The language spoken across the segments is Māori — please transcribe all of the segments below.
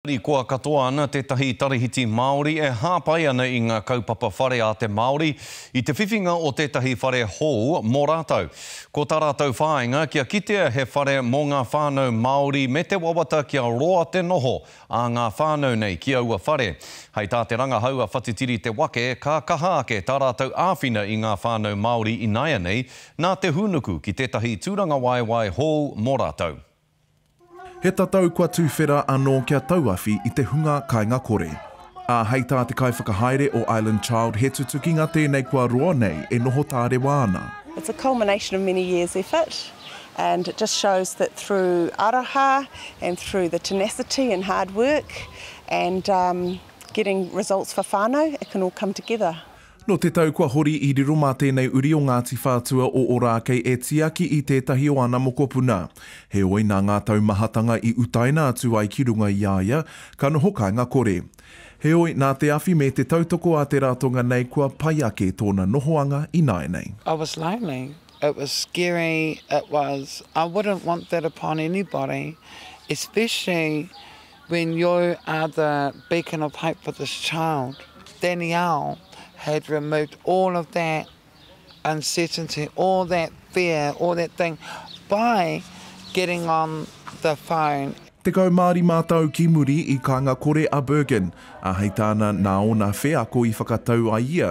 Harikoa katoa ana tētahi tarahiti Māori e hāpai ana i ngā kaupapa whare a te Māori i te whiwhinga o tētahi whare hou mō rātou. Ko tā rātou whāinga kia kitea he whare mō ngā whānau Māori me te wawata kia roa te noho a ngā whānau nei ki aua whare. Hei tā te rangahau a Whatitiri Te Wake, ka kaha ake tā rātou āwhina i ngā whānau Māori ināianei nā te hūnuku ki tētahi tūrangawaewae hou mō rātou. He tatau kua tuwhera anō kia tauawhi i te hunga kainga kore. Ā, hei tā te kaiwhakahaere o Island Child he tutukinga tēnei kua roa nei e noho tārewa ana. It's a culmination of many years effort and it just shows that through aroha and through the tenacity and hard work and getting results for whānau it can all come together. Nō te tau kua hori i riro mā tēnei uri o Ngāti Whātua o Ōrākei e tiaki i tētahi o ana mokopuna. Heoi, nā ngā taumahatanga i utaina atu ai ki runga i a ia, ka noho kāinga kore. Heoi, nā te awhi me te tautoko a te ratonga nei kua pai ake tōna nohoanga ināianei. I was lonely, it was scary, it was, I wouldn't want that upon anybody, especially When you are the beacon of hope for this child, Danielle had removed all of that uncertainty, all that fear, all that thing by getting on the phone. Tekau mā rima tau ki muri i kānga kore a Bergin, ā, hei tāna nā ōna wheako i whakatau ai ia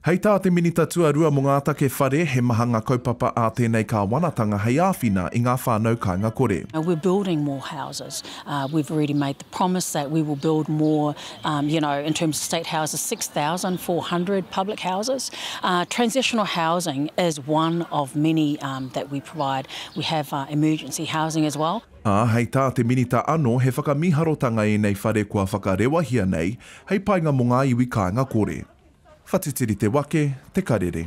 Hei tā te Minita Tuarua mō ngā Take Whare, he maha ngā kaupapa ā tēnei kāwanatanga hei āwhina i ngā whānau kāinga kore. We're building more houses, we've already made the promise that we will build more, you know, in terms of state houses, six thousand four hundred public houses. Transitional housing is one of many that we provide, we have emergency housing as well. ā, hei tā te Minita anō he whakamiharotanga ēnei whare kua whakarewahia nei hei painga mō ngā iwi kāinga kore. Whatitiri te wake, te karere.